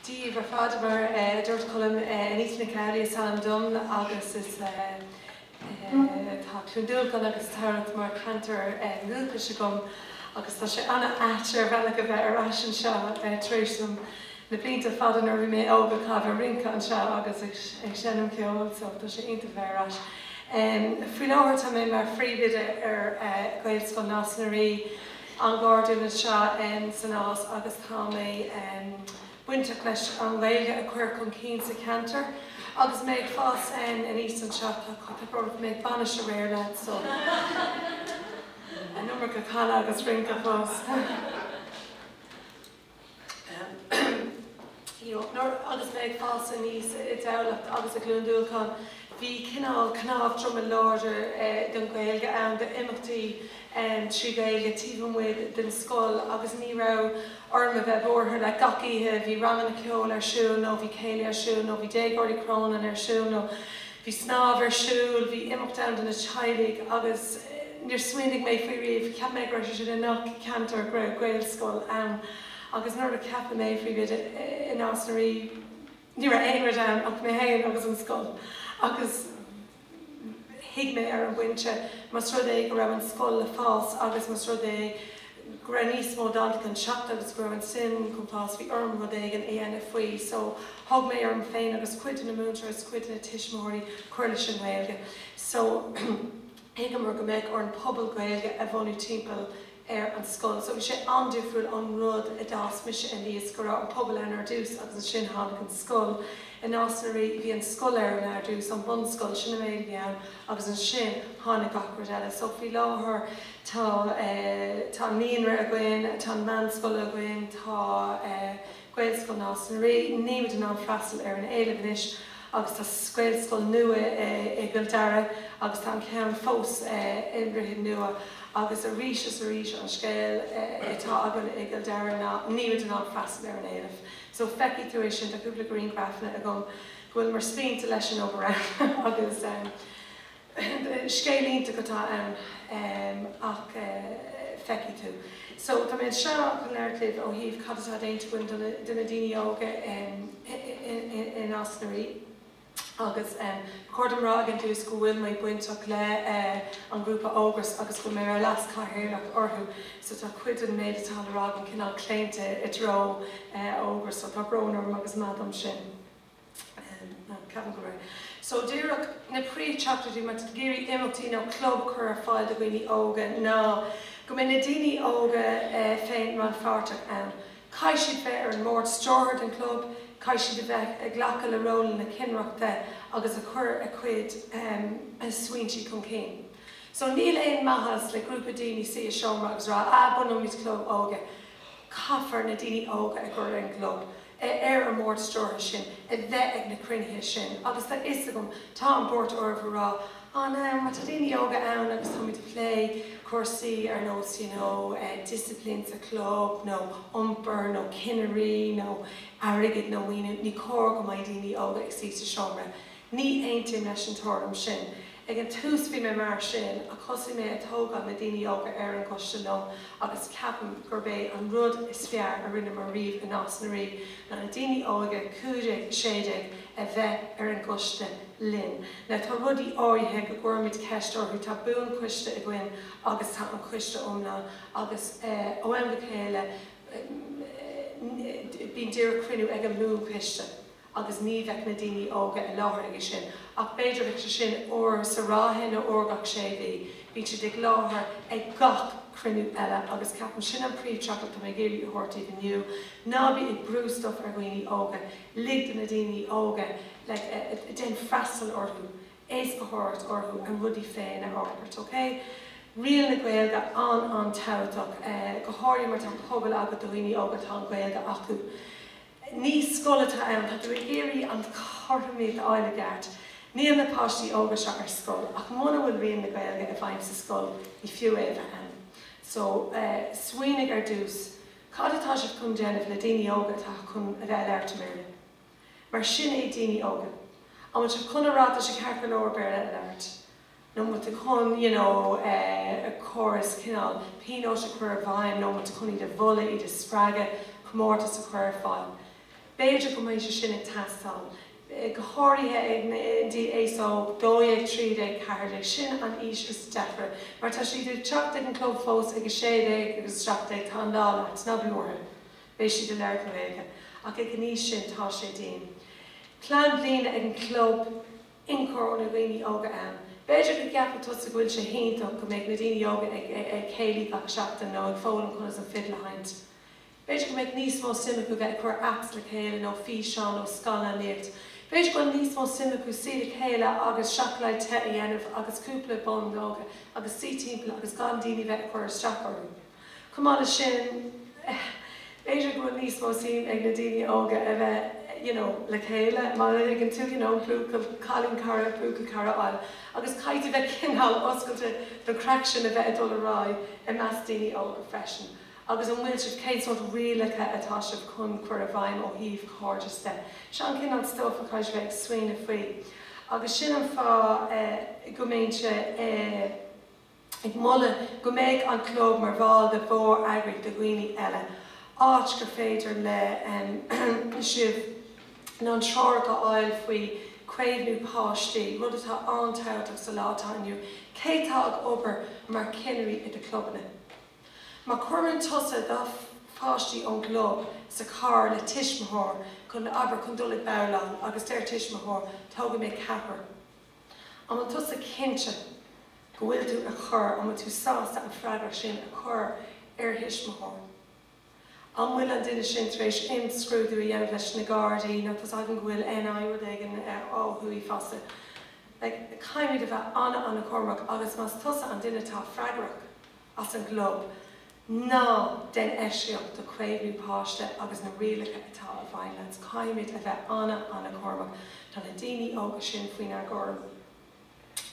díobh ar fad, mar a dúirt Colm Anita Nic Amhlaoibh is ainm dom agus is tá Cluain Dolcáin agus Tamhlacht mar ceantar dhúchais agam agus tá sé an-ait ar bhealach a bheith ar ais anseo tar éis dom na blianta fada nuair a bhí mé óg a chaitheamh ag rince anseo agus ag seinm ceoil so tá sé iontach a bheith ar ais. Faoi láthair tá mé mar phríomhoide ar Ghaelscoil Nás na Rí. an ghairdian is ea em sa Nás agus tá mé em bainteach leis an nGaeilge a chur chun cinn sa cheantar agus mé ag fás em aníos anseo tá brón orm mé ag bainis aréir le so an iomarca canadh agus rince fós. Agus mé ag fás aníos i dTamhlacht agus i gCluain Dolcáin, bhí cineál cnámh droma láidir don Ghaeilge ann, d'imeachtaí trí Ghaeilge taobh amuigh den scoil agus ní raibh orm a bheith buartha, like gach oíche bhí ranganna ceoil ar siúl nó bhí céilí ar siúl nó bhí Déagóirí Chrónáin ar siúl nó. Bhí snámh ar siúl, bhí imeacht ann do na teaghlaigh agus níor smaoinigh mé faoi riamh, cheap mé go raibh sé sin i ngach ceantar, go raibh Gaelscoil ann agus nuair a ceapadh mé mar phríomhoide i Nás na Rí, ní raibh aon rud ann ach mé féin agus an scoil agus thuig mé ar an bpointe más rud é go raibh an scoil le fás agus más rud é go raibh níos mó daltaí chun teacht agus go raibh an suim chun fás, bhí orm rud éigin a dhéanamh faoi so thug mé orm féin agus cuid de na múinteoirí agus cuid de na tuismitheoirí cur leis an nGaeilge so thuigeamar go mbeadh orainn pobal Gaeilge a bhunú timpeall ar an scoil so bhí sé an-difriúil ón rud a d'fhás mise aníos go raibh an pobal ann ar dtús agus ansin tháinig an scoil. I Nás na Rí bhí an scoil ar ann ar dtús an bunscoil, sin an méid a bhí ann agus ansin tháinig gach rud eile so faoi láthair, tá tá an naíonra againn, tá an meánscoil againn, tá Gaelscoil Nás na Rí, nílimid in ann freastal ar an éileamh anois agus tá Gaelscoil nua i gCill Dara agus tá an ceann fós i nDroichead Nua agus arís is arís an scéal atá againn i gCill Dara ná nílimid in ann freastal ar an éileamh. So feicfidh tú é sin, tá cúpla grianghrafanna agam go bhfuileamar spíonta leis an obair ann agus ehm, Scéal iontach atá ann ach feicfidh tú. So, tá mé anseo chun labhairt libh ó thaobh cad atá déanta againn do na daoine óga i Nás na Rí agus ba chóir dom rá ag an dtús go bhfuil mé bainteach le an grúpa Ógras agus go bhfuil mé mar leas chathaoirleach orthu so tá cuid den méid atá le rá agam cineál claonta i dtreo Ógras so tá brón orm agus maith dom sin. So díreach na príomhtheachtaireachtaí má tá tú ag iarraidh imeachtaí nó club a chur ar fáil do dhaoine óga ná go mbeidh na daoine óga féin rannpháirteach ann. Caithfidh siad bheith ar an mbord stiúrtha den chlub, caithfidh siad a bheith ag glacadh le rólanna cinnireachta agus a chur a chuid smaointe chun cinn. So níl aon maitheas le grúpa daoine suí i seomra agus rá, ah, bunóimid club óige. Caithfear na daoine óga a gcur ar an gclub. ar an mbord stiúrtha sin a bheith ag na cruinnithe sin agus tá a fhios agam, tá an buairt oraibh a rá, á now, má tá daoine óga ann agus táimid ag plé cúrsaí ar nós you know discipline sa chlub nó iompar nó cinnirí nó airgead nó maoiniú, ní cóir go mbeidh daoine óga ag suí sa seomra Ní aontaím leis an tuairim sin. Ag an tús bhí mé mar sin, ach thosaigh mé ag tógáil na daoine óga ar an gcoiste liom agus ceapaim gurb é an rud is fearr a rinneamar riamh i Nás na Rí ná na daoine óga, 15, 16, a bheith ar an gcoiste linn. Now tá rudaí áirithe go gcuirimid ceist orthu, tá buan-choiste againn agus tá an coiste iomlán agus ó am go chéile bíonn díreach cruinniú ag an mbuan-choiste. agus ní bheadh na daoine óga i láthair aige sin ach b'fhéidir bheadh sé sin uair sa ráithe nó uair gach sé mhí, bíonn siad ag láthair ag gach cruinniú eile agus ceapaim sin an príomhtheachtaireacht atá mé ag iarraidh a thabhairt daoibh inniu, ná bí ag brú stuff ar dhaoine óga, lig do na daoine óga like déan freastal orthu, éascaitheoireacht orthu a rudaí féin a fhorbairt, ok? Riail na Gaeilge an-an-tábhachtach, go háirithe má tá pobal agat do dhaoine óga atá an Ghaeilge acu. Ní scoil atá ann. Tá tú ag iarraidh an chothromaíocht a fháil i gceart. Níl na páistí óga seo ar scoil, ach muna bhfuil riail na Gaeilge i bhfeidhm sa scoil, ní fiú é a bheith ann. So, smaoinigh ar dtús, cad atá sibh chun déanamh le daoine óga atá chun a bheith ag labhairt i mBéarla? Mar sin é daoine óga. An bhfuil sibh chun a rá tá sé ceart go leor Béarla a labhairt? nó an bhfuil tú chun, you know, córas cineál pionóis a chur i bhfeidhm, nó an bhfuil tú chun iad a mholadh, iad a spreagadh, comórtas a chur ar fáil. B'fhéidir go mbeidh sé sin ag teastáil, go háirithe ag na, indeed, aos óg, dó dhéag, trí déag, ceathair déag, sin an aois is deacra, má tá siad ag teacht ag an gclub fós ag a sé déag agus a seacht déag, tá an lá leat, ná bí buartha, beidh siad ag labhairt na Gaeilge, ach ag an aois sin tá sé dian. Plean bliana ag an gclub. ionchur ó na daoine óga ann. B'fhéidir go gceapfadh tusa go bhfuil sé hiontach go mbeadh na daoine óga ag céilí gach seachtain nó ag foghlaim conas an fidil a sheinnt. B'fhéidir go mbeadh níos mó suime acu bheith ag cur apps le chéile nó físeáin nó scannánaíocht. B'fhéidir go bhfuil níos mó suime acu suí le chéile agus seacláid te a dhéanamh agus cúpla bonnóga agus suí timpeall agus gan daoine bheith ag cur isteach orthu. Chomh maith leis sin, b'fhéidir go bhfuil níos mó suim ag na daoine óga a bheith, you know, le chéile, mar a thuigeann tú, you know, buachaill, cailínchara, buachaillchara a fháil, agus caithfidh tú bheith cineál oscailte don chraic sin a bheith ag dul ar aghaidh i measc daoine óga freisin. Agus an bhfuil sibh, cén sórt rialacha atá sibh chun cur i bhfeidhm ó thaobh cairdeas de? Seo an cineál stuff a chaithfidh sibh bheith ag smaoineamh faoi. Agus sin an fáth go mbeinnse i. ag moladh go mbeidh an club mar bhall de mhór-eagraíocht do dhaoine óga, áit gur féidir le sibh na treoracha a fháil faoi chaomhnú páistí, rud atá an-tábhachtach sa lá atá ann inniu. Cé atá ag obair mar cheannairí i do chlubanna? Má chuireann tusa dhá pháistí ón gclub sa charr le tuismitheoir chun, abair, chun dul ag babhláil agus deir tuismitheoir, Tógfaidh mé ceathrar. An bhfuil tusa cinnte go bhfuil tú ag cur, an bhfuil tú sásta an freagracht sin a chur ar thuismitheoir? An bhfuil an duine sin tar éis imscrúdú a dhéanamh leis na Gardaí nó tá 's againn go bhfuil an NI rud éigin ó thuaidh fosta. Like, caithfimid a bheith an-an-chúramach agus más tusa an duine atá freagrach as an gclub, ná den oifigeach do chaomhnú páiste agus na rialacha atá ag baint leis. Caithfimid a bheith ana, ana-chúramach. Tá na daoine óga sin faoinár gcúram.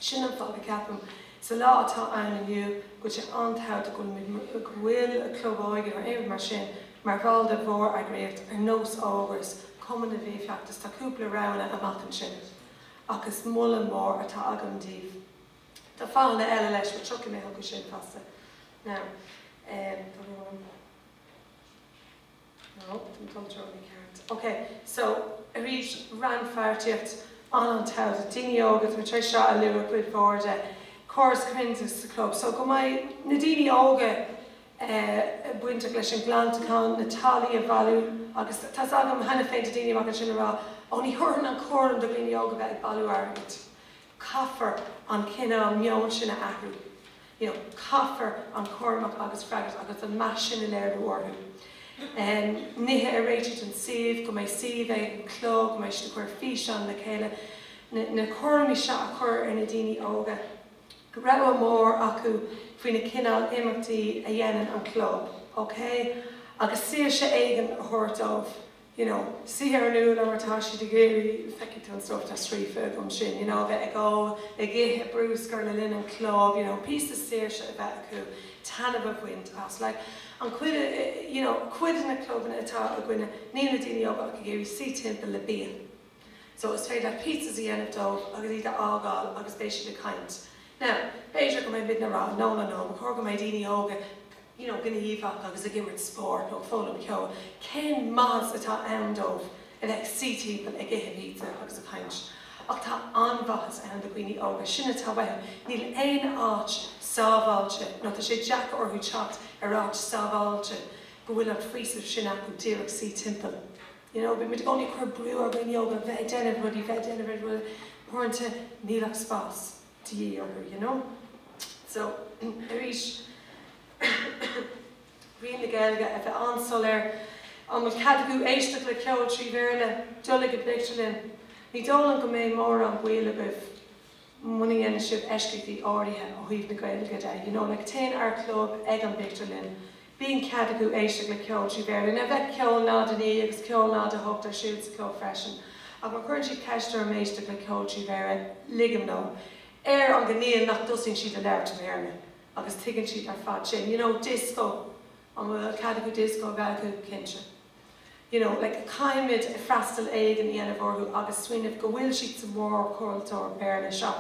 Sin an fáth go gceapaim, sa lá atá ann inniu, go bhfuil sé an-tábhachtach go bhfuil club óige nó aon rud mar sin mar bhall de mhór-eagraíocht ar nós Ógras, Cumann na bhFiann, Feachtas. Tá cúpla roghanna amach ansin, ach is moladh mór atá agam daoibh. Tá fáthanna eile leis, but tiocfaidh mé chucu sin fosta. Now, um, tá brón orm. No, an control ní ceart. Ok, so, arís, rannpháirtíocht an-an-tábhachtach, daoine óga, tá mé tar éis seo a lua cuid mhór de, córas comhairleoireachta sa club, so go mbeidh na daoine óga eh, bainteach leis an phleanáil, na táillí a bhailiú agus tá 's agam cheana féin tá daoine amach ansin a rá, 'Ó ní thabharfainn an cúram do dhaoine óga bheith ag bailiú airgid. Caithfear an cineál meoin sin a athrú. You know, caithfear an cúram agus freagracht agus an meas sin a léiriú orthu. Em, nithe a réiteach don suíomh, go mbeidh suíomh ag an chlub, go mbeidh siad ag cur físeán le chéile, na, na cúraimí seo a chur ar na daoine óga. rogha mhór acu faoi na cineál imeachtaí a dhéanann an club, okay? Agus saoirse éigin a thabhairt dóibh. you know, saoire ón rud atá siad ag iarraidh feicfidh tú an stuif atá scríofa agam ansin, you know, a bheith ag ól, ag ithe, brioscaí le linn an chlub, you know, píosa saoirse a bheith acu, taitneamh a bhaint as. Like, an chuid, you know, cuid de na clubanna atá againne, níl na daoine óga ach ag iarraidh suí timpeall le bia. So is féidir leat pizzas a dhéanamh dóibh agus iad a fhágáil agus beidh siad ag caint. Now, b'fhéidir go mbeidh muidne a rá, no, no, no, ba chóir go mbeidh daoine óga, you know, gníomhach agus ag imirt spóirt nó ag foghlaim ceoil, cén maitheas atá ann dóibh a bheith ag suí timpeall ag ithe pizza agus ag caint? Ach tá an-mhaitheas ann do dhaoine óga, sin atá uathu. Níl aon áit sábháilte nó tá sé deacair orthu teacht ar áit sábháilte go bhfuil an faoiseamh sin acu díreach suí timpeall, you know, bímid i gcónaí ag cur brú ar dhaoine óga a bheith ag déanamh rudaí, bheith ag déanamh rudaí, uaireanta níl ach spás. de dhíth orthu, you know. So, arís, riail na Gaeilge a bheith an-soiléir. An bhfuil cead acu éisteacht le ceol trí Bhéarla, dul ag an bpictiúrlann? Ní dóigh liom go mbeidh mórán baill agaibh muna ndéanann sibh eisceachtaí áirithe ó thaobh na Gaeilge de, you know. Like, téann ár gclub ag an bpictiúrlann. Bíonn cead acu éisteacht le ceol trí Bhéarla, nó bheadh ceol 0 9 agus ceol 0 8 ar siúl sa chlub freisin, ach má chuireann siad ceist orm éisteacht le ceol trí Bhéarla, ligim leo, ar an gcoinníoll nach dtosaíonn siad ag labhairt i mBéarla, agus tuigeann siad ar fad sin. You know, dioscó, an bhfuil cead acu dioscó a bheith acu? Cinnte. you know, like caithfimid freastal éigin a dhéanamh orthu agus smaoineamh go bhfuil siad sa mhórchultúr Béarla seo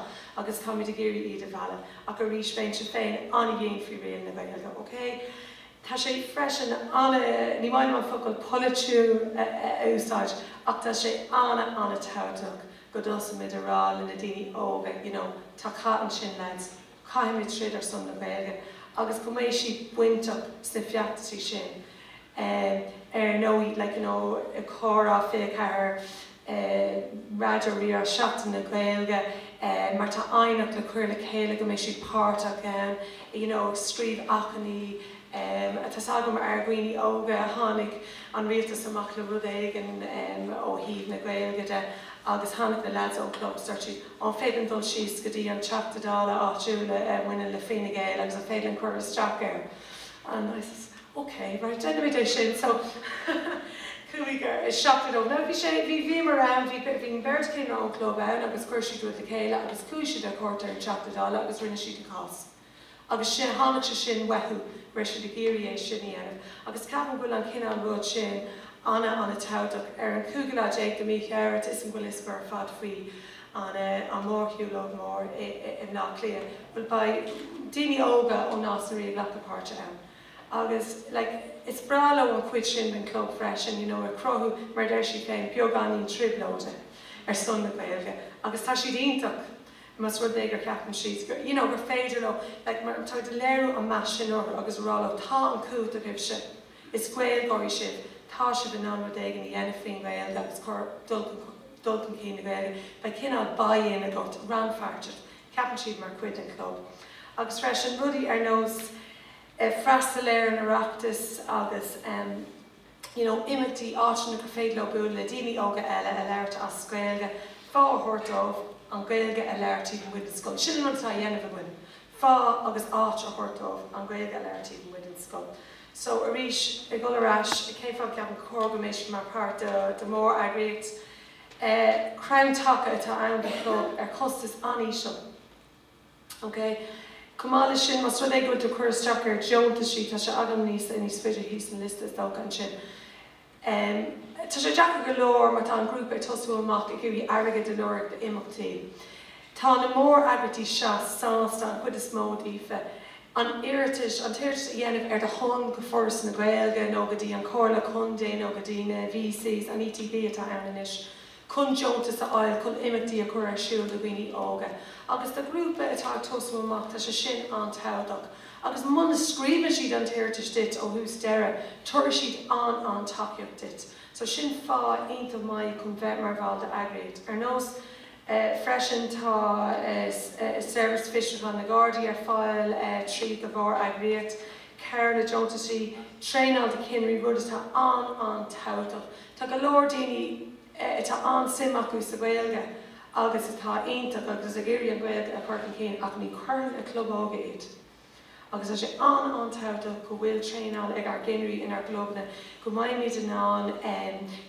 agus táimid ag iarraidh iad a mhealladh. Ach arís, bheinnse féin an-dhian faoi riail na Gaeilge, ok? Tá sé freisin an-, ní maith liom an focal 'polaitiúil' a úsáid, ach tá sé an-, an-tábhachtach go dtosaímid a rá le na daoine óga, you know, tá cath ansin, lads. caithfimid troid ar son na Gaeilge agus go mbeidh siad bainteach sna feachtaisí sin ar ndóigh, like, you know, Comhrá 24, Raidió Rí-Rá, Seachtain na Gaeilge má tá aighneacht le cur le chéile go mbeidh siad páirteach ann, you know, ag scríobh achainí. Tá's agam ár ndaoine óga, tháinig an Rialtas amach le rud éigin ó thaobh na Gaeilge de agus tháinig na leaids ón chlub is dúirt siad, an féidir linn dul síos go dtí an Teachta Dála áitiúil a bhaineann le Fine Gael agus an féidir linn cur isteach air and I says ok right déanfaimid é sin so chuaigh ar, seachtar dóibh, now bhí sé, bhí, bhíomar ann, bhí, bhí an bheirt chinnire ón chlub ann agus chuir siad rud le chéile agus chuaigh siad ar chuairt ar an Teachta Dála agus rinne siad an cás. Agus sin, tháinig sé sin uathu go raibh siad ag iarraidh é sin a dhéanamh. Agus ceapaim go bhfuil an cineál rud sin an-an-tábhachtach. Ar an cúigiú lá déag de mhí Feabhra, is an bhfuil a fhios agaibh ar fad faoi an mórshiúlóid mór i mBleá Cliath? Bhuel, beidh daoine óga ó Nás na Rí ag glacadh páirte ann. Agus like, is breá leo an chuid sin den chlub freisin, you know, ag cruthú, mar a deir siad féin, beagáinín trioblóide ar son na Gaeilge. Agus tá siad iontach. más rud é gur gceapann siad, gur, you know, gur féidir leo, like, mar tá tú ag léiriú an mheas sin orthu agus ag rá leo, tá an chumhacht agaibhse, is Gaeilgeoirí sibh, tá sibh in ann rud éigin a dhéanamh faoin nGaeilge agus cur, dul chun, dul chun cinn na Gaeilge, ba chineál buy-in agat, rannpháirteacht, ceapann siad mar chuid den chlub. Agus freisin, rudaí ar nós, eh, freastal ar an Oireachtas agus, em, you know imeachtaí, áiteanna gur féidir leo bualadh le daoine óga eile a labhairt as Gaeilge, fáth a thabhairt dóibh an Gaeilge a labhairt taobh amuigh den scoil. Sin an rud atá á dhéanamh againn, fáth agus áit a thabhairt dóibh an Gaeilge a labhairt taobh amuigh den scoil. So arís, ag dhul ar ais, cén fáth go gceapann gur cóir go mbeidh siad mar páirt de mhór-eagraíocht? Eh crann taca atá ann don chlub ar chostas an-íseal. OK. Chomh maith leis sin, más rud é go bhfuil tú ag cur isteach ar dheontaisí, tá sé agam níos, níos faide thíos an liosta is dócha ansin. Em. Tá sé deacair go leor má tá an grúpa ag tosú amach ag iarraidh airgead a lorg d'imeachtaí. Tá na mór-eagraíochtaí seo sásta, an chuid is mó díofa, an iarratas, an t-iarratas a dhéanamh ar do shon go Foras na Gaeilge nó go dtí an Chomhairle Contae nó go dtí na VECs, an ETB atá ann anois. chun deontas a fháil chun imeachtaí a chur ar siúl do dhaoine óga agus do ghrúpa atá ag tosú amach, tá sé sin an-tábhachtach agus muna scríobhann siad an t-iarratas duit ó thús deireadh, tabharfaidh siad an-an-tacaíocht duit. So sin fáth iontach maith chun bheith mar bhall d'eagraíocht. Ar nós freisin tá Seirbhís Fiosrúcháin na Gardaí ar fáil tríd do mhór-eagraíocht. Cabhair le deontaisí, traenáil do chinnirí, rud atá an-an-tábhachtach. Tá go leor daoine a bhfuil an-suim acu sa Ghaeilge agus atá iontach agus ag iarraidh an Ghaeilge a chur chun cinn ach ní cinnirí club óige iad. Agus tá sé an-an-tábhachtach go bhfuil traenáil ag ár gcinnirí inár gclubanna go mbeimid in ann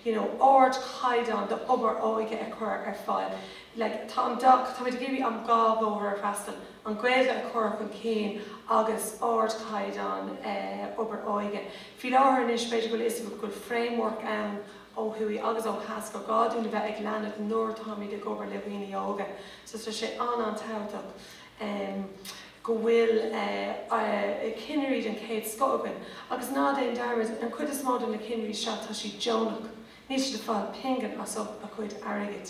you know ard-chaighdeán d'obair óige a chur ar fáil. Like tá an dá, táimid ag iarraidh an dá bhóthar a fhreastal, an Ghaeilge a chur chun cinn agus ard-chaighdeán obair óige. Faoi láthair anois, b'fhéidir go bhfuil a fhios agaibh go bhfuil framework ann ó thuaidh agus ó theas gur gá dúinn a bheith ag leanúint nuair atáimid ag obair le daoine óga so tá sé an-an-tábhachtach go bhfuil cinnirí den chéad scoth againn agus ná déan dearmad, an chuid is mó de na cinnirí seo tá siad deonach, níl siad ag fáil pingin as ucht a gcuid airgid.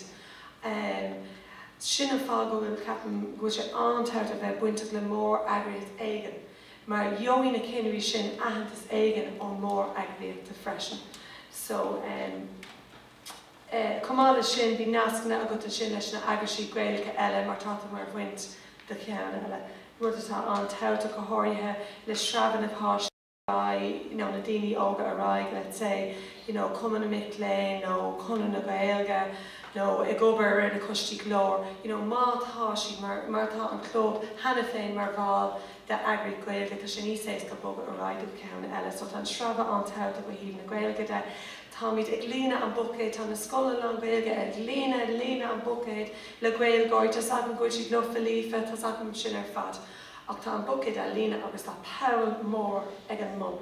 Sin an fáth go bhfuil, ceapaim, go bhfuil sé an-tábhachtach a bheith bainteach le mór-eagraíocht éigin. mar gheobhaidh na cinnirí sin aitheantas éigin ón mór-eagraíocht freisin so ehm eh chomh maith leis sin beidh nascanna agat ansin leis na eagrais Gaelacha eile mar tá tú mar bhaint do cheann eile, rud atá an-tábhachtach go háirithe le sreabhadh na páistí ar aghaidh you know na daoine óga ar aghaidh let's say you know Cumann na Mic Léinn nó Conradh na Gaeilge. nó ag obair ar na coistí Glór, you know má tá siad, mar, mar tá an Club cheana féin mar bhall de eagraí Gaeilge, tá sé níos éasca bogadh ar aghaidh go ceann eile. So tá an sreabhadh an-tábhachtach ó thaobh na Gaeilge de. Táimid ag líonadh an buicéid, tá na scoileanna lán-Ghaeilge ag líonadh, líonadh an buicéid le Gaeilgeoirí. Tá's agam go bhfuil siad lofa líofa, tá's agam sin ar fad. Ach tá an buicéid á líonadh agus tá poll mór ag an mbun.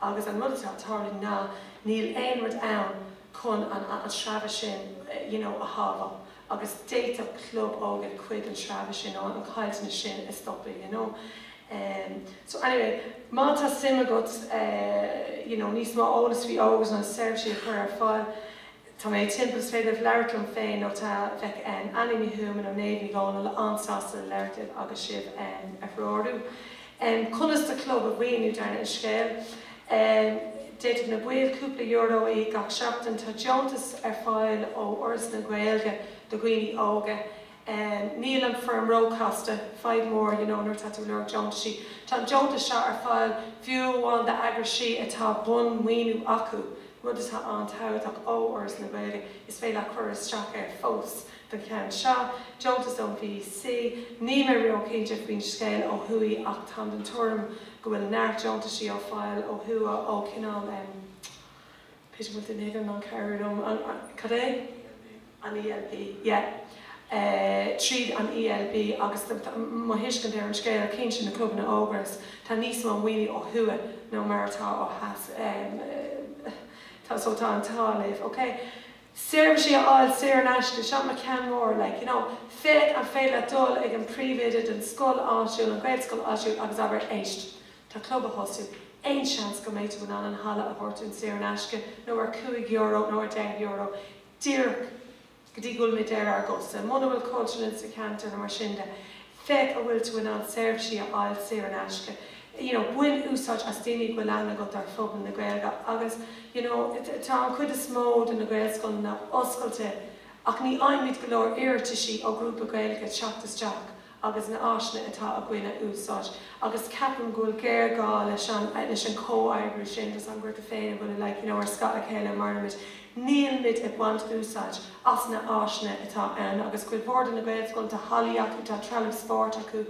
Agus an rud atá ag tarlú ná níl aon rud ann chun an sreabha sin you know a shábháil agus d'fhéadfadh club óige cuid den sreabha sin nó an chaillteanas sin a stopadh you know. So anyway má tá suim agat you know níos mó eolas faoi Ógras, na seirbhísí a chur ar fáil, Tá mé timpeall, is féidir libh labhairt liom féin nó tá Bec, Annie Ní Thuama nó Méabh Ní Dhónaill an-sásta labhairt libh agus sibh a threorú. Conas do chlub a mhaoiniú, dála an scéil? D'fhéadfadh na baill cúpla euro a íoc gach seachtain. Tá deontas ar fáil ó Fhoras na Gaeilge do dhaoine óga. Níl an foirm róchasta, faidhb mór, you know, nuair atá tú ag lorg deontaisí. Tá an deontas seo ar fáil fiú amháin d'eagraisí atá bunmhaoiniú acu, rud atá an-tábhachtach ó Fhoras na Gaeilge. Is féidir leat cur isteach air fós don cheann seo. Deontas ón VEC. Níl mé ró-chinnte faoin scéal ó thuaidh ach táim den tuairim go bhfuil neart deontaisí ar fáil ó thuaidh ó cineál em. Peter, bhfuil tú in ann cabhrú liom, an, cad é? An ELB, yeah. Tríd an ELB agus mo thuiscint ar an scéal, cinnte, na clubanna Ógras, tá níos mó maoine ó thuaidh ná mar atá ó theas, tá, so tá an t-ádh libh, ok? Seirbhísí a fháil saor in aisce, seo mo cheann mór, like, you know, féach an féidir leat dul chuig an príomhoide den scoil áitiúil, an Ghaelscoil áitiúil agus abair, éist, Tá club á thosú. Aon seans go mbeidh tú in ann an halla a thabhairt dúinn saor in aisce nó ar cúig euro nó ar deich euro díreach go dtí go bhfuil muid ar ár gcosa. Muna bhfuil Cultúrlann sa cheantar nó mar sin de, féach a bhfuil tú in ann seirbhísí a fháil saor in aisce. You know, bain úsáid as daoine a bhfuil aithne agat ar phobal na Gaeilge agus, you know, tá an chuid is mó de na Gaelscoileanna oscailte ach ní fhaighimid go leor iarratasaí ó ghrúpa Gaeilge teacht isteach agus na áiseanna atá againn a úsáid agus ceapaim go bhfuil géarghá leis an leis an comhoibriú sin díreach eadrainn féin, bhuel like you know ar scáth a chéile a mairimid nílimid ag baint úsáid as na áiseanna atá ann agus cuid mhór de na Gaelscoileanna tá hallaí acu tá trealamh spóirt acu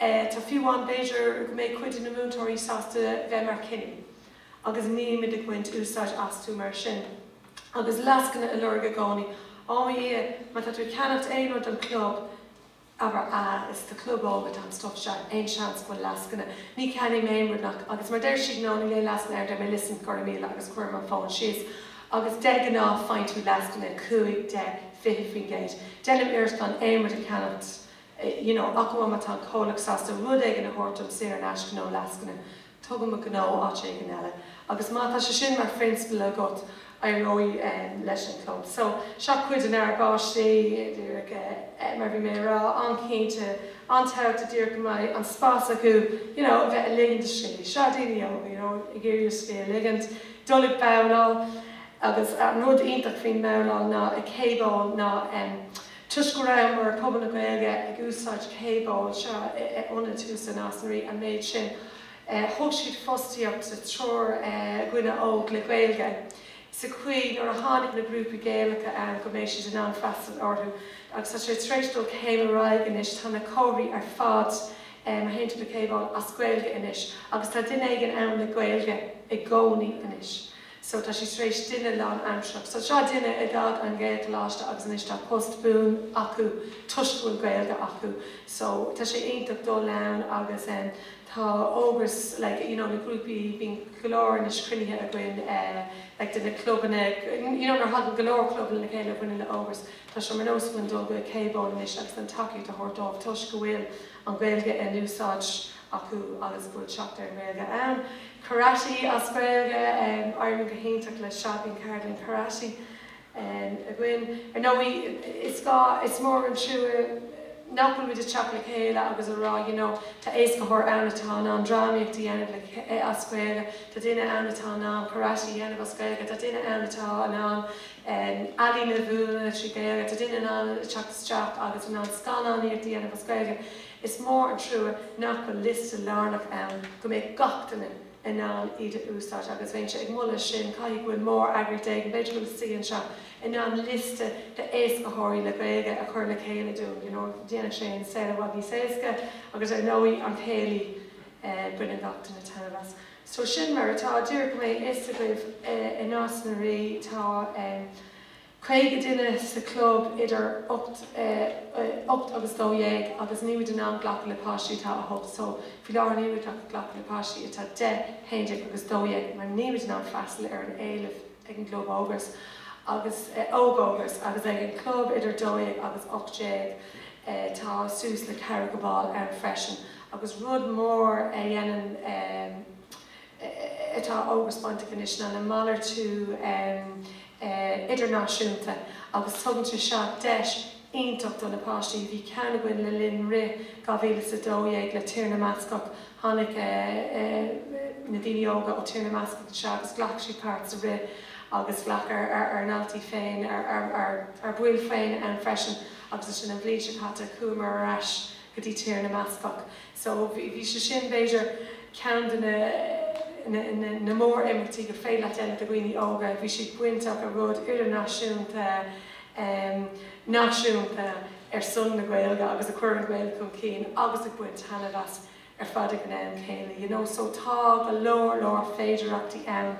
tá fiú amháin b'fhéidir go mbeidh cuid de na múinteoirí sásta bheith mar chinnirí agus nílimid ag baint úsáid astu mar sin agus lascaine a lorg i gcónaí ó a Dhia má tá tú ag ceannacht aon rud don chlub abair eh, is do chlub óige atá an stuff seo, aon seans go bhfuil lascaine? Ní cheannaím aon rud nach, agus mar deir siad no, níl aon lascaine air, deir mé listen, gura míle agus cuirim an fón síos agus de ghnáth faigheann tú lascaine cúig, deich, fiche faoin gcéad. Déanaim iarracht gan aon rud a cheannacht you know, ach amháin má tá an comhlacht sásta rud éigin a thabhairt dom saor in aisce nó lascaine. Tugaim mo ghnó áit éigin eile. Agus má tá sé sin mar phrionsabal agat, éireoidh leis an gclub. So, seo cuid dár bpáistí, díreach mar a bhí mé ag rá, an-chinnte, an-tábhachtach díreach go mbeidh an spás acu, you know, a bheith ag ligean scíth. Seo daoine óga, you know, ag iarraidh scíth a ligint, dul ag babhláil. Agus an rud iontach faoin mbabhláil ná i KBowl ná, em, Toisc go rabhamar, pobal na Gaeilge, ag úsáid KBowl seo ionad thuas i Nás na Rí, an méid sin, thug siad fostaíocht do triúr dhuine óg le Gaeilge, sa chaoi, nuair a tháinig na grúpaí Gaelacha ann, go mbeidh siad in ann freastal orthu. Agus tá sé tar éis dul céim ar aghaidh anois, tá na comharthaí ar fad, mar shampla i KBowl, as Gaeilge anois, agus tá duine éigin ann le Gaeilge i gcónaí anois. so tá sí tar éis duine lán-aimsearach, so seo duine a d'fhág an Ghaelcholáiste agus anois tá post buan acu toisc go bhfuil Gaeilge acu, so tá sé iontach dul ann agus em tá Ógras like you know na grúpaí bíonn go leor anois cruinnithe againn eh like de na clubanna you know nuair a thagann go leor clubanna le chéile a bhaineann le Ógras tá sé mar nós againn dul go KBowl anois agus an tacaíocht a thabhairt dóibh toisc go bhfuil an Ghaeilge in úsáid acu agus go bhfuil teacht ar an nGaeilge ann. Karate as Gaeilge, éiríonn go hiontach leis, bíonn ceardlann karate againn. Ar ndóigh, is gá, is mór an trua nach bhfuil muid ag teacht le chéile agus ag rá, you know, tá éascaitheoir ann atá in ann drámaíocht a dhéanamh as Gaeilge, tá duine ann atá in ann karate a dhéanamh as Gaeilge, tá duine ann atá in ann. ealaín a mhúineadh as Gaeilge, tá duine in ann teacht isteach agus in ann scannánaíocht a dhéanamh as Gaeilge. Is mór an trua nach bhfuil liosta lárnach ann go mbeidh gach duine in ann iad a úsáid agus bheinnse ag moladh sin, caithfidh go bhfuil mór-eagraíocht éigin, b'fhéidir go bhfuil sí anseo, in ann liosta d'éascaitheoirí le Gaeilge a chur le chéile dúinn, you know, dhéanfadh sé an saol i bhfad níos éasca agus ar ndóigh, an céilí, baineann gach duine taitneamh as. So sin mar atá. Díreach go mbeidh a fhios agaibh, i Nás na Rí tá 50 duine sa chlub idir ocht ocht agus dó dhéag agus níl muid in ann glacadh le páistí atá 8. So faoi láthair nílimid ach ag glacadh le páistí atá 10, haon déag agus dó dhéag mar níl muid in ann freastal ar an éileamh. ag an gClub Ógras agus Óg-Ógras agus ag an gClub idir 12 agus 18. Tá suas le 50 ball ann freisin agus rud mór a dhéanann atá Ógras bainteach anois ná an malartú idirnáisiúnta agus tugann sé seo deis iontach do na páistí. Bhí ceann againn le linn rith 2012 le Tír na mBascach. Tháinig na daoine óga ó Tír na mBascach anseo agus ghlac siad páirt sa rith agus ghlac ár ndaltaí féin, ár baill féin ann freisin agus ansin an bhliain seo caite chuamar ar ais go dtí Tír na mBascach. So bhí sé sin b'fhéidir ceann de na mór-imeachtaí gur féidir leat déanamh do dhaoine óga. Bhí siad bainteach le rud idirnáisiúnta. náisiúnta ar son na Gaeilge agus a chuir an Ghaeilge chun cinn agus ag baint taitneamh as ar fad ag an am céanna you know so tá go leor leor féidireachtaí ann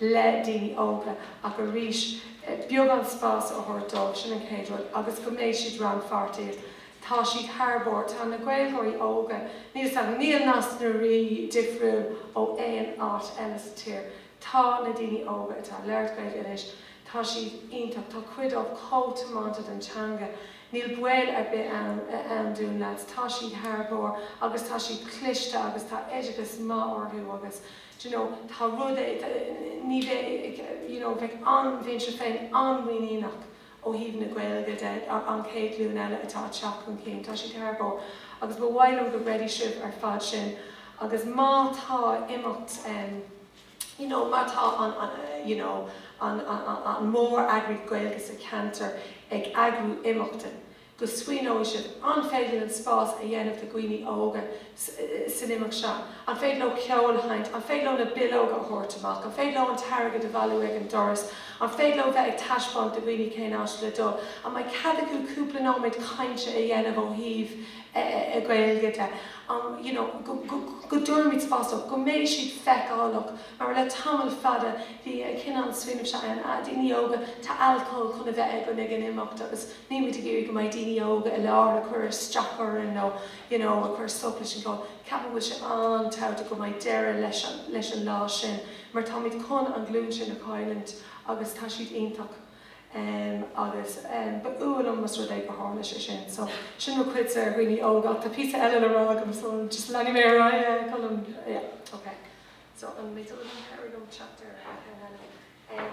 le daoine óga ach arís beagán spás a thabhairt dóibh sin an chéad rud agus go mbeidh siad rannpháirteach tá siad thar barr tá na Gaeilgeoirí óga níl níl Nás na Rí difriúil ó aon áit eile sa tír Tá na daoine óga atá ag labhairt Gaeilge anois, tá siad iontach, tá cuid díobh chomh tiomanta don teanga, níl baol ar bith ann dúinn leaids, tá siad thar barr agus tá siad cliste agus tá oideachas maith orthu agus do you know, tá rud é, ní bheidh, you know, bheadh an-, bheinn-se féin an-mhuiníneach Ó thaobh na Gaeilge de, an chéad ghlúin eile atá ag teacht chun cinn, tá siad thar barr agus ba mhaith liom go gcreidfidh sibh ar fad sin agus má tá imeacht you know má tá an you know an mór-eagras Gaeilge sa cheantar ag eagrú imeachta, go smaoineoidh siad, an féidir linn spás a dhéanamh do dhaoine óga san imeacht seo? An féidir leo ceol a sheinnt? An féidir leo na bileoga a thabhairt amach? An féidir leo an t-airgead a bhailiú ag an doras? An féidir leo bheith ag taispeáint do dhaoine cén áit le dul? An mbeidh cead acu cúpla nóiméad cainte a dhéanamh ó thaobh na Gaeilge de? An, you know, go dtabharfaimid spás dóibh, go mbeidh siad feiceálach? Mar le tamall fada bhí an cineál smaoinimh seo ann, 'ah, daoine óga, tá alcól chun a bheith againn ag an imeacht agus, Nílimid ag iarraidh go mbeidh daoine óga i láthair ag cur isteach orainn nó you know ag cur stop leis an gclub. Ceapaim go bhfuil sé an-tábhachtach go mbeidh deireadh leis an lá sin mar táimid chun an ghlúin sin a chailliúint agus tá siad iontach em agus em ba fhuath liom más rud é gur tharla sé sin. So sin mo chuidse ar dhaoine óga ach tá píosa eile le rá agam so just leanfaidh mé ar aghaidh a Cholm yeah ok. So an mbeidh dul agam cabhraigh liom teacht ar cheann eile. Em.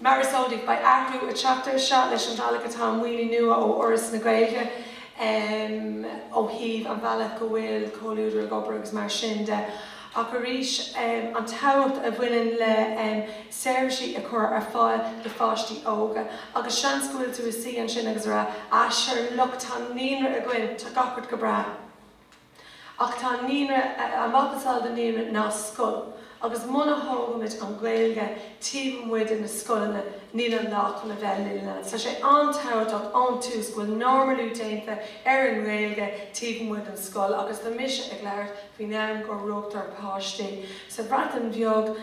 Mar is eol daoibh, beidh athrú ag teacht ar seo leis an bhealach atá an maoiniú nua ó Fhoras na Gaeilge ó thaobh an bhealach go bhfuil Comhluadar ag obair agus mar sin de ach arís an tábhacht a bhaineann le seirbhísí a chur ar fáil do pháistí óga agus seans go bhfuil tú i do shuí ansin agus ag rá ah sure look tá naíonra againn tá gach a bheart go breá. Ach tá naíonra, a mhacasamhail de naíonra ná scoil, agus muna thógaimid an Ghaeilge taobh amuigh de na scoileanna níl an lá chun a bheith linne. Tá sé an-tabhachtach ón tús go bhfuil normalú déanta ar an nGaeilge taobh amuigh den scoil agus tá mise ag labhairt faoin am go rugtar páistí sa Bhreatain Bheag,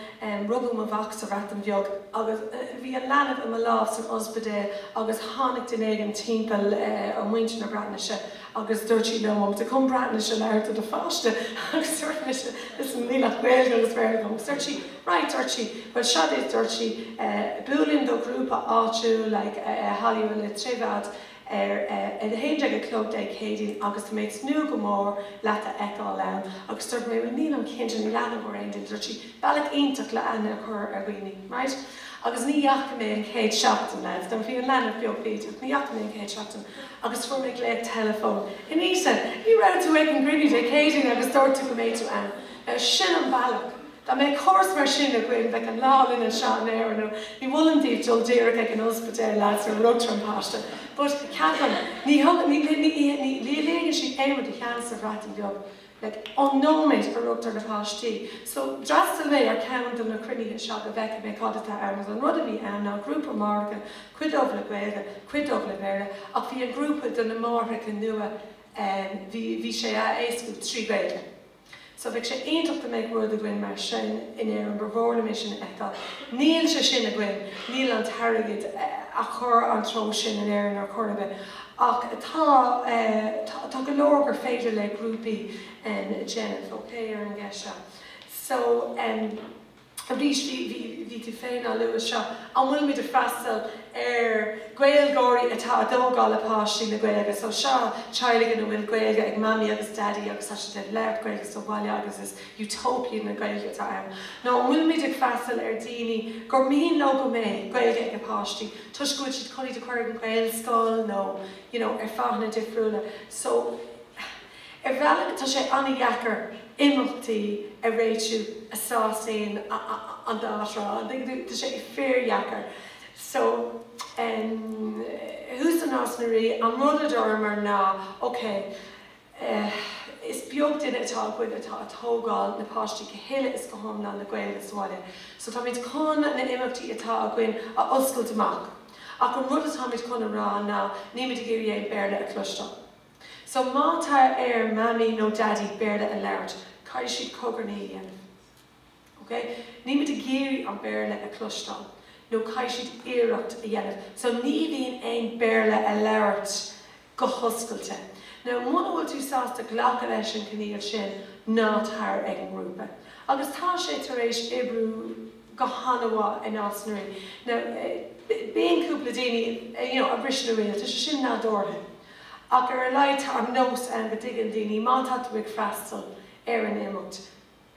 rugadh mo mhac sa Bhreatain Bheag agus bhí an leanbh i mo lámh san ospidéal agus tháinig duine éigin timpeall ó muintir na Breatnaise Agus dúirt sí liom, 'Ó, an bhfuil tú chun Breatnais a labhairt le do pháiste. Agus dúirt mise, 'Listen, níl ach Gaeilge agus Béarla agam. Agus dúirt sí, 'Right, dúirt sí, 'bhuel, seo duit, dúirt sí, 'buaileann do ghrúpa áitiúil, like, i Holywood le chéile ar a 11 a chlog Dé Céadaoin agus tá mé ag tnúth go mór le tú a fheiceáil ann. Agus dúirt mé, 'Bhuel, nílim cinnte, níl aithne agam ar aon duine. Dúirt sí, 'Bealach iontach le aithne a chur ar dhaoine, right? Agus ní dheachaigh mé an chéad seachtain, leaids, bhí an leanbh beag bídeach, ní dheachaigh mé an chéad seachtain agus fuair mé glaoch teileafóin. Anita, ní raibh tú ag an gcruinniú Dé Céadaoin agus dúirt tú go mbeadh tú ann. Now sin an bealach. Dá mbeadh córas mar sin againn, bheadh an lá linn anseo in Éirinn. Now ní mholaim daoibh dul díreach ag an ospidéal, leaids, nuair a rugtar an páiste. But ceapaim, ní thugann, ní, ní, ní, ní, ní fhágann siad aon rud ag seans sa Bhreatain Bheag. Ón nóiméad a rugtar na páistí so, d'fhreastail mé ar cheann de na cruinnithe seo go bhfeicfeadh mé cad atá ann, agus an rud a bhí ann ná grúpa máithreacha, cuid díobh le Gaeilge, cuid díobh le Béarla, ach bhí an grúpa do na máithreacha nua, bhí, bhí sé á éascú trí Ghaeilge. So bheadh sé iontach dá mbeadh rud againn mar sin in Éirinn, ba mhór liom é sin a fheiceáil. Níl sé sin againn, níl an t-airgead á chur sa treo sin in Éirinn ar chor ar bith. Ach tá, tá go leor gur féidir le grúpaí a dhéanamh, ok, ar an gceist seo. So, arís, bhí, bhí, bhí tú féin á lua seo, an bhfuil muid a' freastal ar Ghaeilgeoirí atá a' tógáil a bpáistí le Gaeilge? So seo teaghlaigh ina bhfuil Gaeilge ag Mamaí agus Daidí agus tá siad ag labhairt Gaeilge sa bhaile agus is Utopia na Gaeilge atá ann. Nó an bhfuil muid ag freastal ar daoine gur mian leo go mbeidh Gaeilge ag a bpáistí toisc go bhfuil siad chun iad a chur ag an Ghaelscoil nó you know ar fáthanna difriúla so ar bhealach tá sé an-dheacair imeachtaí a réitiú a sásaíonn an dá thrá an dtuigeann tú? Tá sé fíordheacair so em thuas i Nás na Rí an rud a dúramar ná ok Is beag duine atá againn atá a' tógáil na páistí go huile is go hiomlán le Gaeilge sa bhaile, so táimid chun na himeachtaí atá againn a oscailt amach. Ach an rud atáimid chun a rá ná nímid ag iarraidh aon Béarla a chloisteáil. So má tá ar Mammy nó Daddy Béarla a labhairt, caithfidh siad cogarnaí a dhéanamh. Ok? Nímid ag iarraidh an Béarla a chloisteáil, nó caithfidh siad iarracht a dhéanamh. So ní bhíonn aon Béarla a labhairt go hoscailte. Now muna bhfuil tú sásta glacadh leis an gcoinníoll sin, ná tar ag an ngrúpa. Agus tá sé tar éis oibriú go han-mhaith i Nás na Rí. Now bíonn cúpla daoine, you know, a bhriseann a riail, tá sé sin nádúrtha. Ach ar a laghad tá an nós ann go dtuigeann daoine má tá tú ag freastal ar an imeacht,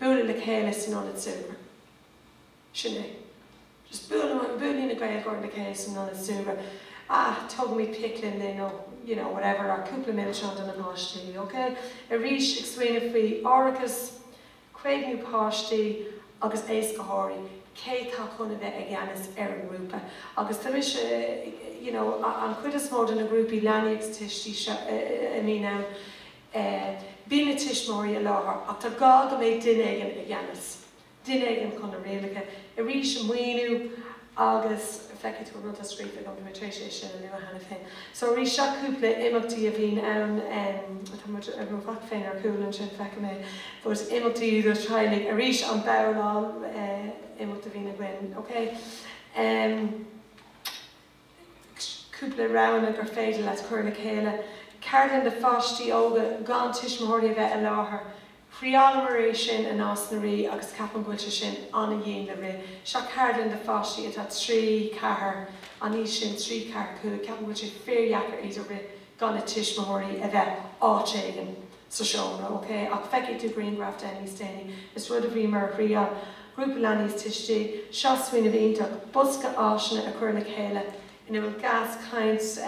bualadh le chéile san ionad súgartha. Sin é. Just buaileadh, buaileadh na Gaeilgeoirí le chéile san ionad súgartha. Ah, tugaimid picnic linn nó, you know, whatever, nó cúpla milseán do na páistí, ok? Arís, ag smaoineamh faoi árachas, caomhnú páistí agus éascaitheoirí, cé tá chun a bheith i gceannas ar an ngrúpa? Agus tá mise, you know, an chuid is mó de na grúpaí leanaí agus tuistí seo a bhíonn ann, eh, bíonn na tuismitheoirí i láthair ach tá gá go mbeidh duine éigin i gceannas, duine éigin chun na rialacha arís a mhíniú agus feicfidh tú an rud atá scríofa agam, bhí mé tar éis é sin a lua cheana féin. So arís, seo cúpla imeachtaí a bhíonn ann, em, tá mo mhac féin ar chúl ansin, feicim é, but imeachtaí do theaghlaigh, arís an bhabhláil, eh, imeacht a bhíonn againn, okay? Em. cúpla roghanna gur féidir leat cur lena chéile, ceardlann do pháistí óga gan tuismitheoirí a bheith i láthair. Thriáileamar é sin in Nás na Rí agus ceapaim go bhfuil sé sin an-dhian le rith. Seo ceardlann do pháistí atá trí, ceathair, an aois sin, trí, ceathair, cúig, ceapaim go bhfuil sé fíordheacair iad a rith gan a tuismitheoirí a bheith áit éigin. sa seomra, ok, ach feicfidh tú grianghraf de níos déanaí, is rud a bhí mar thriáil, grúpa leanaí is tuistí, seo smaoineamh iontach, bosca áiseanna a cuireadh le chéile ina bhfuil Gaschaint,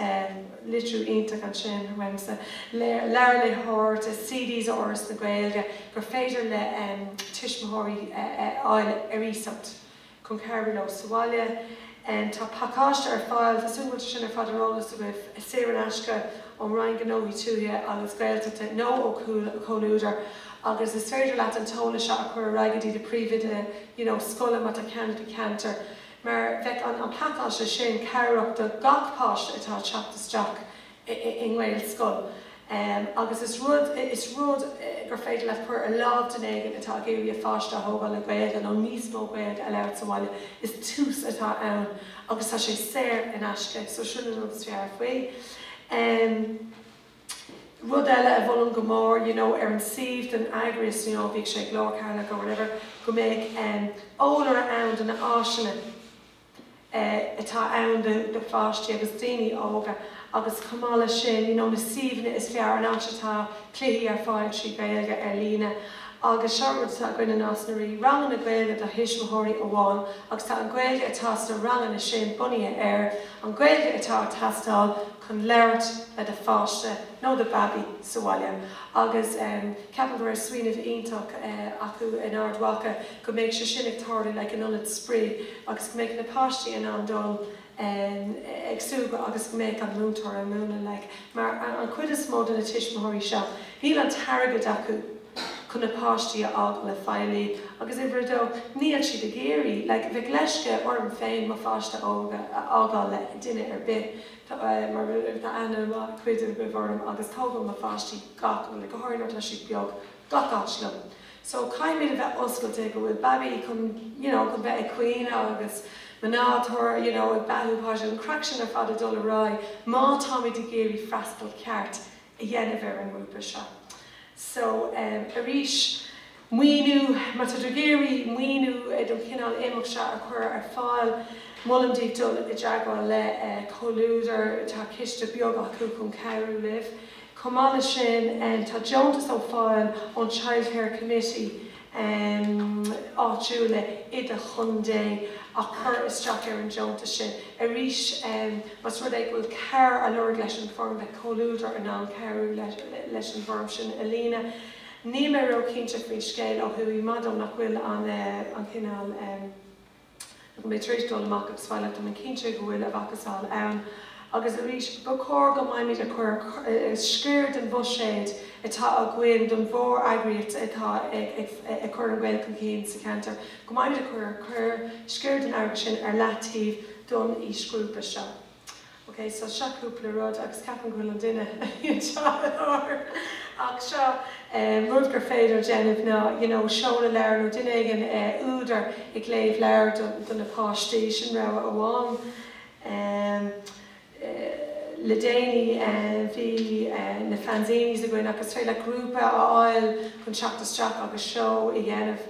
litriú iontach ansin uaimse, leabhair léitheoireachta, CDs ó Fhoras na Gaeilge gur féidir le tuismitheoirí a fháil ar iasacht. chun cabhrú leo sa bhaile. Tá pacáiste ar fáil, tá súil agam go bhfuil sé sin ar fad ar eolas agaibh, saor in aisce ón Roinn Gnóthaí Pobail Tuaithe agus Gaeltachta nó ó Chomhluadar agus is féidir leat an t-eolas seo a chur ar aghaidh go dtí do phríomhoide you know scoile má tá ceann i do cheantar mar beidh an an pacáiste sin cabhrach do gach páiste atá ag teacht isteach i nGaelscoil agus is rud is rud gur féidir leat cur ar láimh duine éigin atá ag iarraidh a pháiste a thógáil le Gaeilge nó níos mó Gaeilge a labhairt sa bhaile. Is tús atá ann agus tá sé saor in aisce so sin an rud is fearr faoi. Rud eile a mholaim go mór you know ar an suíomh den eagraíocht you know bhíodh sé ag Glór Cheatharlach or whatever go mbeadh eolaire ann de na áiseanna atá ann do pháistí agus daoine óga agus chomh maith leis sin you know na suíomhanna is fearr, an áit atá cluichí ar fáil trí Ghaeilge ar líne agus seo rud atá againn i Nás na Ríogh, ranganna Gaeilge do thuismitheoirí amháin agus tá an Ghaeilge atá sna ranganna sin bunaithe ar an Ghaeilge atá ag teastáil chun labhairt le do pháiste nó do bhabaí sa bhaile agus ceapaim go raibh smaoineamh iontach acu in Ard Mhacha go mbeidh sé sin ag tarlú like in ionad spraoi agus go mbeidh na páistí in ann dul ag súgradh agus go mbeadh an múinteoir ag múineadh like mar an chuid is mó de na tuismitheoirí seo níl an t-airgead acu chun na páistí a fhágáil le feighlí agus uimhir a dó níl siad ag iarraidh like bheadh leisce orm féin mo pháiste a fhágáil le duine ar bith mar tá aithne ag cuid agaibh orm agus tógaim mo pháistí gach like go háirithe nuair atá siad beag gach áit liom. so caithfimid a bheith oscailte go bhfuil babaí chun you know chun bheith ag caoineadh agus máthair you know ag beathú páiste an chraic sin ar fad ag dul ar aghaidh má táimid ag iarraidh freastal ceart a dhéanamh ar an ngrúpa seo so um arís maoiniú má táid ag iarraidh maoiniú don chineál imeacht seo a chur ar fáil molaim daoibh dul i dteagmháil le Comhluadar tá ciste beag acu chun cabhrú libh. Chomh maith leis sin, tá deontas ar fáil ón Childcare Committee áitiúla i do chontae a chur isteach ar an deontas sin. Arís, más rud é go bhfuil cabhair á lorg leis an bhfoirm, beidh Comhluadar in ann cabhrú leis an bhfoirm sin a líonadh. Níl mé ró-chinnte faoin scéal ó thuaidh, Maido, nach bhfuil an cineál. Tá mé tar éis dul amach as, ar fáil ach, tá mé cinnte go bhfuil a mhacasamhail ann. Agus arís, ba chóir go mbeimid ag cur sciar den bhuiséad atá againn don mhór-eagraíocht atá ag cur an Ghaeilge chun cinn sa cheantar, go mbeimid ag cur sciar den airgead sin ar leataobh don aoisghrúpa seo. Ok, so seo cúpla rud, agus ceapaim go bhfuil an duine i láthair, ach seo rud gur féidir a dhéanamh ná you know seoladh leabhair nó duine éigin, údar ag léamh leabhair do na páistí, sin rogha amháin. Em. Le déanaí bhí na Fanzinis againn agus is féidir leat grúpa a fháil chun teacht isteach agus seó a dhéanamh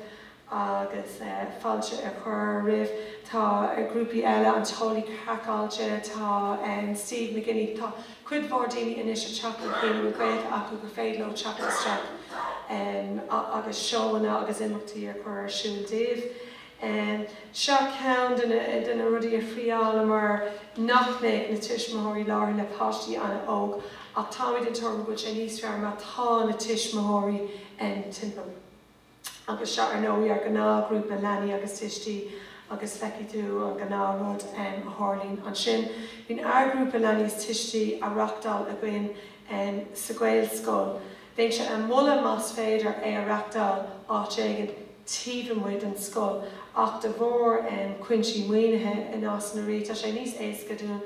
agus fáilte a chur roimh, tá grúpaí eile, an tEolaí Craiceáilte, tá Steve McGuinney, tá cuid mhór daoine anois ag teacht le chéile a bhfuil Gaeilge acu gur féidir leo teacht isteach agus seóanna agus imeachtaí a chur ar siúl daoibh. Seo ceann de na rudaí a thriálamar nach mbeadh na tuismitheoirí láithreach le páistí an-óg ach táimid den tuairim go bhfuil sé níos fearr má tá na tuismitheoirí timpeall. agus seo ar ndóigh ár ngnáthghrúpa leanaí agus tuistí agus feicfidh tú an gnáthrud a tharlaíonn ansin. Bíonn ár ngrúpa leanaí is tuistí á reachtáil againn sa Ghaelscoil. Bheinnse ag moladh más féidir é a reachtáil áit éigin taobh amuigh den scoil ach de bharr cúinsí maoinithe i Nás na Ríogh tá sé níos éasca dúinn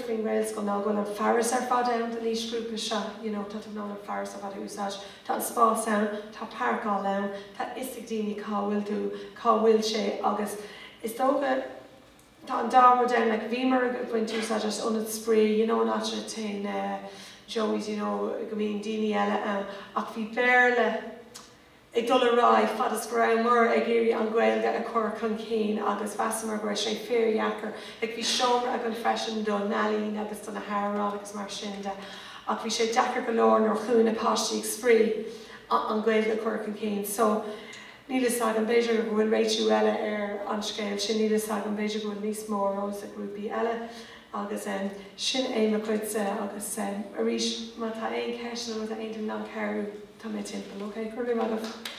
faoin nGaelscoil ná go bhfuil an fearas ar fad ann don aoisghrúpa seo, you know, tá tú in ann an fearas ar fad a úsáid, tá an spás ann, tá páirceáil ann, tá 'fhios ag daoine cá bhfuil tú, cá bhfuil sé agus is dócha, tá an dá rud ann, like bhíomar ag baint úsáid as ionad spraoi, you know in áit ar nós, eh, Joey's, you know go mbíonn daoine eile ann ach bhí Béarla, ag dul ar aghaidh fad is go rabhamar ag iarraidh an Ghaeilge a chur chun cinn agus mheasamar go raibh sé fíordheacair. Like bhí seomra againn freisin do na healaíona agus do na hamhráin agus mar sin de ach bhí sé deacair go leor nuair a chuaigh na páistí ag spraoi an Ghaeilge a chur chun cinn. So níl fhios agam, b'fhéidir go bhfuil réiteach eile ar an scéal sin, níl fhios agam, b'fhéidir go bhfuil níos mó eolas ag grúpaí eile. Agus sin é mo chuidse. Agus arís, má tá aon cheist nó más féidir liom cabhrú, tá mé timpeall. OK? Go raibh maith agat.